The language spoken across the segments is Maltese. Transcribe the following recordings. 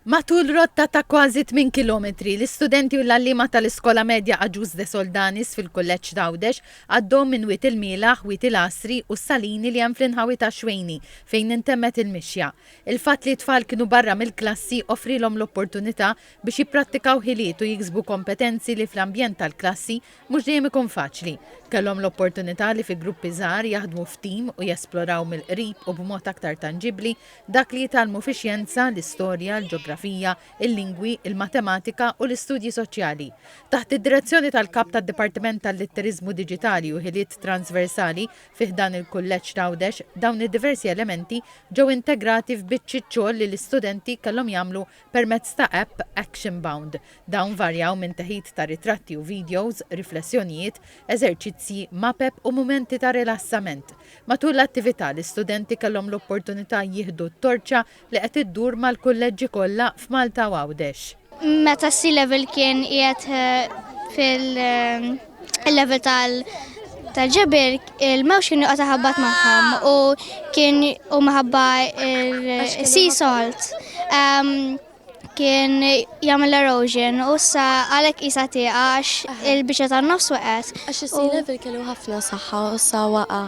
Matul rotta ta' kważi tmien kilometri, l-istudenti u l-għalliema tal-Iskola Medja Agius de Soldanis fil-Kulleġġ t'Għawdex għaddew minn Wied il-Mielaħ, Wied il-Għasri u s-Salini li hemm fl-inħawi ta' Xwejni fejn intemmet il-mixja. Il-fatt li t-tfal kienu barra mill-klassi offrielhom l-opportunità biex jipprattikaw ħiliet u jiksbu kompetenzi li fl-ambjent tal-klassi Mhux dejjem ikun faċli. Kellhom l-opportunità li fi gruppi żgħar jaħdmu f'tim u jesploraw mill-qrib u b'mod aktar tanġibbli dak li jitgħallmu fix-xjenza, l-istorja, l-ġografija, il-lingwi, il-matematika u l-istudji soċjali. Taħt id-direzzjoni tal-Kap tad-Dipartiment tal-Litteriżmu Diġitali u Ħiliet Transversali fi ħdan il-Kulleġġ t'Għawdex, dawn id-diversi elementi ġew integrati f'biċċiet xogħol li l-istudenti kellhom jagħmlu Permezz ta' app Action Bound, dawn varjaw minn teħid ta' ritratti u vidjows, riflessjonijiet, eżerċizzji, mapep u mumenti ta' rilassament. Matul l-attività, l-istudenti kellhom l-opportunità jieħdu t-torċa li qed iddur mal-kulleġġi kollha f'Malta u Għawdex. Meta s-C-Level kien qiegħed fil. il-level tal- tal-ġebir il-mewx kien joqgħod ħabbat magħhom u kien u maħabba il-sea salt ehm, kien jagħmel erosion u sa għalhekk qisha tieqa għax il-biċċa tan-nofs waqgħet. Għax is-sea level kellu ħafna saħħa u sa waqa'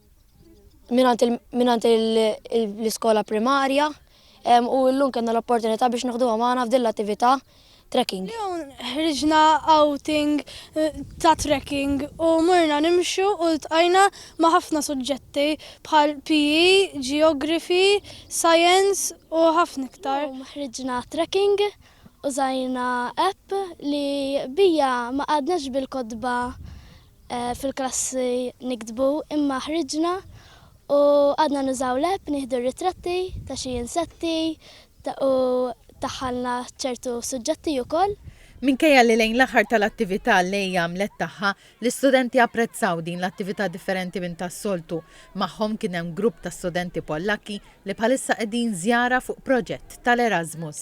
minant l-iskola primarja u l-lum kena l-opportunità biex nħdu għamana f'din l-attività trekking. Ħriġna outing eh, ta' trekking u murna nimxu u l-tqajna ma' ħafna suġġetti bħal PE, Geography, Science u ħafna iktar. Ħriġna trekking u zajna app li bija ma għadnax bil-kodba fil-klassi niktbu imma ħriġna u għadna nużaw l-app nieħdu r-ritratti ta' xi insetti u daħħalna ċertu suġġetti wkoll. Minkejja li lejn l-aħħar tal-attività l-AI għamlet tagħha, l-istudenti apprezzaw din l-attività differenti minn tas-soltu. Magħhom kien hemm grupp ta' studenti Pollakki li bħalissa qegħdin żjara fuq proġett tal-Erasmus.